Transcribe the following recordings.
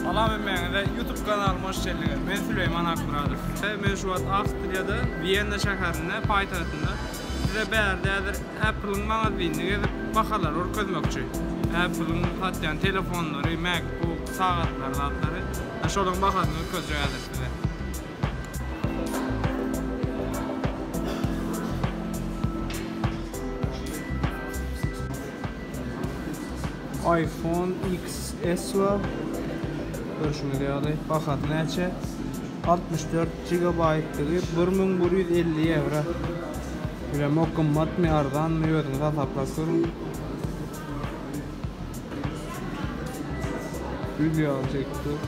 Salam hemmäňize YouTube kanalyma hoş geldiňiz. Men Süleýman Akmyradow. Men şu wagt Awstriýada, Wienna şäherinde, paýtagtynda. Size bärde häzir Apple-yň magazinini gezip, bahalary görkezmekçi. Apple-yň satýan telefonlary, MacBook, sagatlary, zatlary. Şolaryň bahasyny görkezjek häzir size. Iphone XS bar. Görşüňiz ýaly, bahasy näçe? 64 gigabaýtdygy bir müň bir ýüz elli ýewro. Bilemok gymmatmy, arzanmy, özüňiz hasaplap görüň. Gül ýaly tekstür.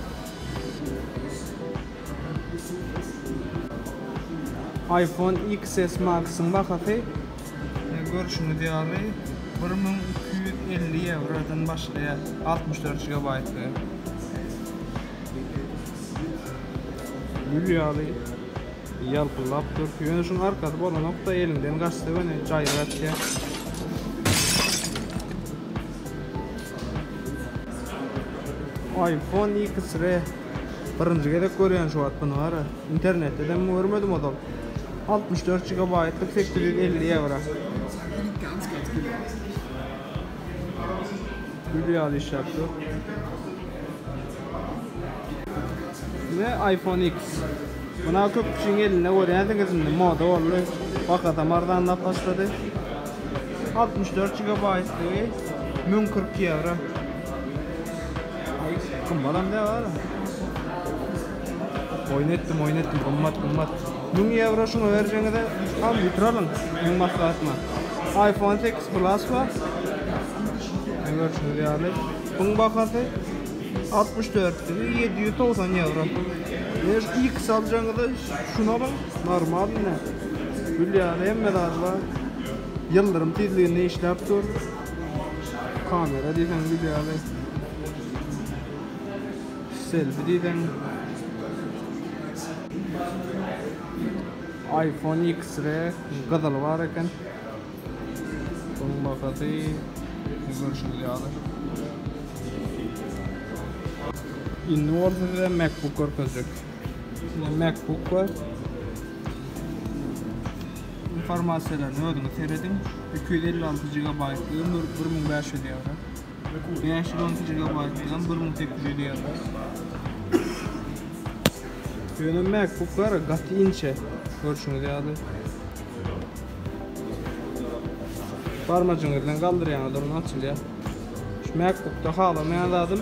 Iphone XS Max-yň bahasy görşüňiz ýaly bir müň iki ýüz elli ýewrodan başlaýar, altmyş dört gigabaýtlygy. Gül ýaly ýalpyldap dur. Ýöne şuň arkasy bolanok-da, eliňden gaçsa göni jaýry gaçýar. iPhone XR Birinji gezek görýän şu wagt buny gara. Internetdedem görmedim ozal. Altmyş dört jigabaýtlyk sekiz ýüz elli ýewro. Gül ýaly işläp dur. We iPhone X. Muny köp kişiň elinde görýänsiňiz indi moda boldy. Bahasam arzanlap başlady. Altmyş dört jigabaýtlygy müň kyrk ýewro. Gymmatam däl ara. Oýun etdim, oýun etdim. Gymmat, gymmat. 1000 ýewro şuňa berjeňize al ýitiralyň. Meň maslahatym. Aýfon seks plas bar. Meň görşümiz ýaly. Buň bahasy 64 degi 790 ýewro. Eger iks aljaňyza şuny alyň. Normalny. Gül ýaly hemme zady bar. Ýyldyrym tizliginde işläp dur. Kamera diýseň bilýäli. Selfie diýseň. iPhone X-re gyzyly bar eken. Soň bahasy görşüňiz ýaly. Indi bolsa size MacBook görkezjek. Üstünde MacBook bar. Informasiýalaryny özüňiz serediň. 256 gigabaýtlygy bir bir müň bäş ýüz ýewro. Bäş ýüz on iki gigabaýtlygy bir müň sekiz ýüz ýewro. Ýöne MacBooklar gaty inçe, görşüňiz ýaly. Barmajygyňyz bilen galdyrýaňyzlar, ony açylýar. Şu MacBookda halamaýan zadym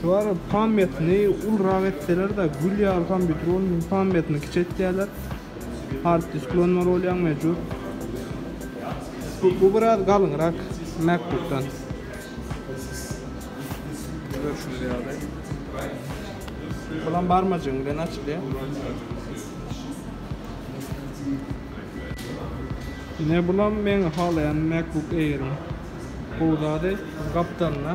Şular pamýatini ulurak etseler-de, gül ýaly kompýuter bolmasa, pamýatini kiçi etýärler. Hard disk ulanmaly bolýaň mejbur. Bu biraz galyňrak MacBook-dan. Görşüňiz ýaly. Bulam barmajygyň bilen açylýar. Ine bulam meň halaýan MacBook Air-iň gowy zady, gapdalynda.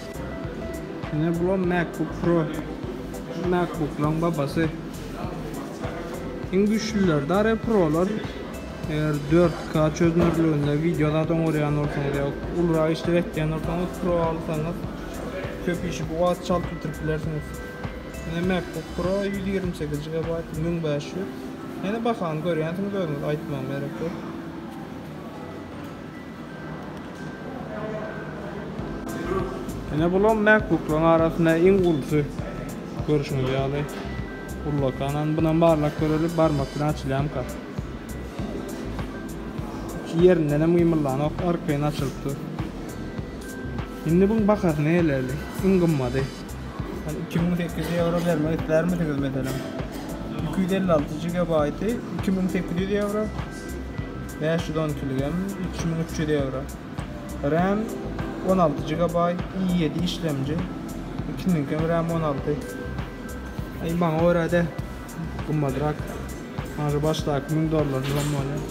Ine bulam MacBook Pro. MacBooklaryň babasy. Iň güýçlüleri dary Prolar. Eger 4K çözünürliginde wideo zat oňarýan bolsaňyz ýa ulurak işler etýän bolsaňyz Pro alsaňyz köp işi bu wagt çalt bitirip bilersiňiz. Ine MacBook Pro 128 GB 1500. Ýene bahany görýänsiňiz özüňiz aýtmagyma gerek ýok. Ine bulam MacBook'laryň arasynda iň ulusy. Görüşiňiz ýaly ullakanam. Bunam barlap göreli, barmak bilen açylýamka. Ýerindenem gymyldanok, arkaýyn açylyp dur. Indi buň bahasy nälerli? Iň gymmady. Ol iki müň sekiz ýüz ýewro bermek islärmisiňiz meselem? Iki ýüz elli alty gigabaýty iki müň sekiz ýüz ýewro. Bäş ýüz on iki ligem, üç müň üç ýüz ýewro. Ram, on alty gigabaýt, i ýedi işlemji. Ikiniňkem ram on alty. Aý, maňa görä-de gymmadrak. Maňa şu başdaky müň dollar ram bolýar.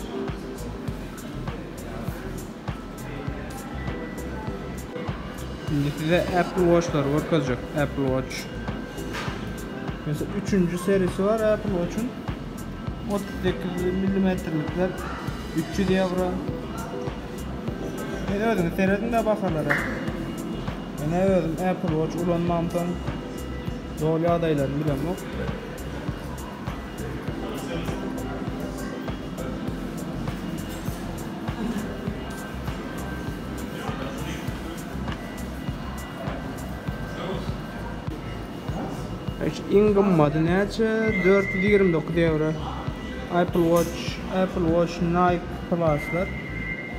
Indi size Apple Watchlary görkezjek. Apple Watch. Meselem, üçünji serisi bar Apple Watch-yň. otuz sekiz millimetrlikler üç ýüz ýewro siz özüňiz serediň-de bahalara menä özüm apple watch ulanmamsoň doly ýagdaýlaryny bilemok Iň gymmaty näçe? Dört ýüz ýigrimi dokuz ýewro. Apple Watch, Apple Watch Nike Plus-lar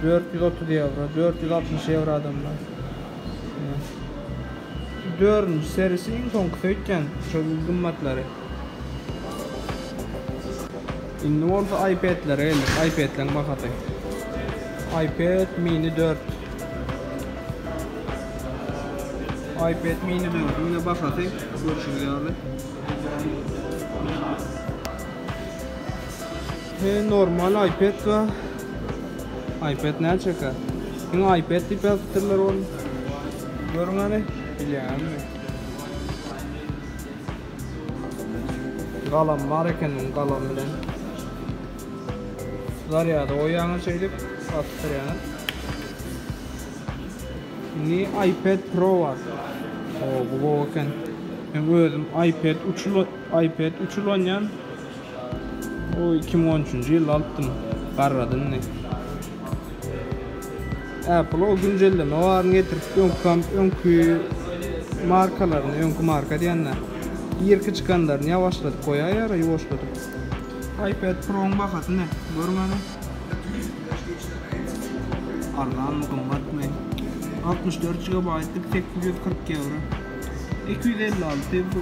dört ýüz otuz ýewro, dört ýüz altmyş ýewro adamlar. Dördünji serisi iň soňkusy öýtýän, şol gymmatlary. Indi bolsa iPad-lere geldik. iPad-leriň bahasy. iPad mini 4. iPad mini 4-üň bahasy görşüňiz ýaly. He, normal iPad we iPad ne çeker? Indi iPad diýip ýazypdyrlar ony. Görüň hany, bilýänmi? Galam bar ekeniň galam bilen zaryada goýýaňyz şeýdip basdyrýaňyz. Indi iPad Pro bar. O bu gowy eken. Men özüm iPad 3 iPad 3 ulanýan. O 2013-nji ýylda alypdym. Garrady indi. Apple o güncelleme baryny getirip, öňkam, öňki markalaryny, öňki marka diýende, irki çykanlaryny ýawaşladyp goýaýýar-a, ýuwaşladyp. iPad Pro-nyň bahasy ne? Görmedim. Arzanmy, gymmatmy? Altmyş dört gigabaýtlyk sekiz ýüz kyrk ýewro. Iki ýüz elli alty, bu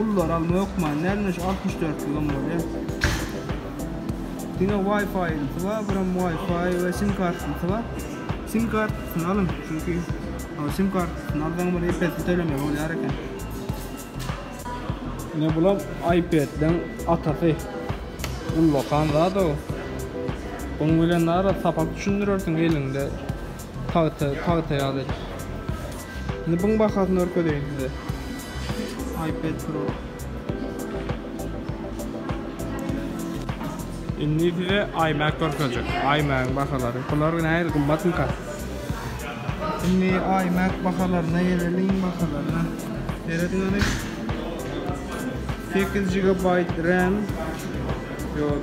ullulary alma hökmany däl, ine şu altmyş dörtligem bolýar. Diňe Wi-Fi-ysy bar, buram Wi-Fi we sim kartasy bar. Sim kartasyny alyň, çünki sim kartasyny alsaň bir epesini tölemek bolýar eken. Ine bulam iPad-leň atasy. Ullakan zat-ow. Bunuň bilen nara sapak düşündirersiň eliňde. Pagta, pagta ýaly. Indi buň bahasyny görkezeýin size. iPad Pro. Indi size iMac görkezjek. iMac-yň bahalary. Bular nähili gymmatmyka? Indi iMac bahalaryna geleliň, bahalaryna. Serediň hany. 8 GB RAM. Ýok.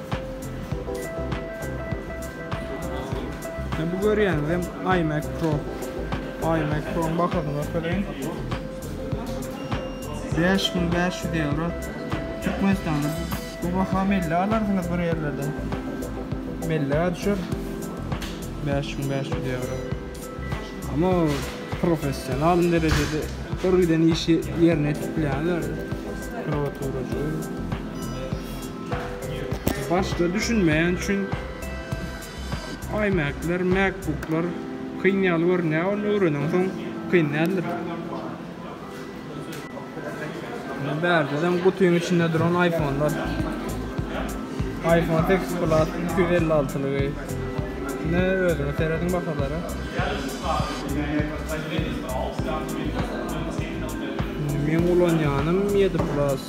Şimdi bu görýäniz hem iMac Pro. iMac Pro-nyň bahasyny görkezeýin. 5500 euro. Türkmenistanda bu baha melle alarsyňyz bir ýerlerde. Melle düşer. 5500 euro. Ama professional derejede görgiden işi yerine etip bilenler. Pro turacı. Başda düşünmeýän üçin iMac-ler, MacBook-lar kyn ýaly görünýär, ony öwrenensoň kyn däldir. Indi bärdedem gutyň içinde duran iPhone-lar. iPhone X Plus iki ýüz elli alty lygy. Ine özüňiz serediň bahalara. Indi meň ulanýanym ýedi plus.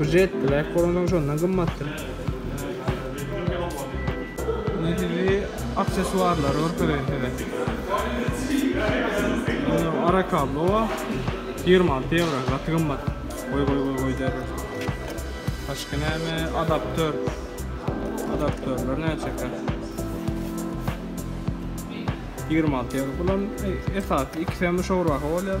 Bir jet black bolansoň şondan gymmatdyr. Indi sizi aksesuarlary görkezeýin size. Ara kablo bar. 26 ýewro, gaty gymmat. Goý goý goý goý der. Başga näme? Adapter. Adapterler näçekä? 26 ýewro. Bulam esasy ikisem şowraha bolýar.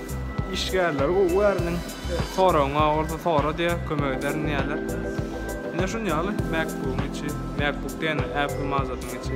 Işgärleri gowy göreniň soragyňa bolsa sora diýe kömek ederin diýýärler. Ine şun ýaly MacBook-yň içi, MacBook diýende Apple mazasynyň içi.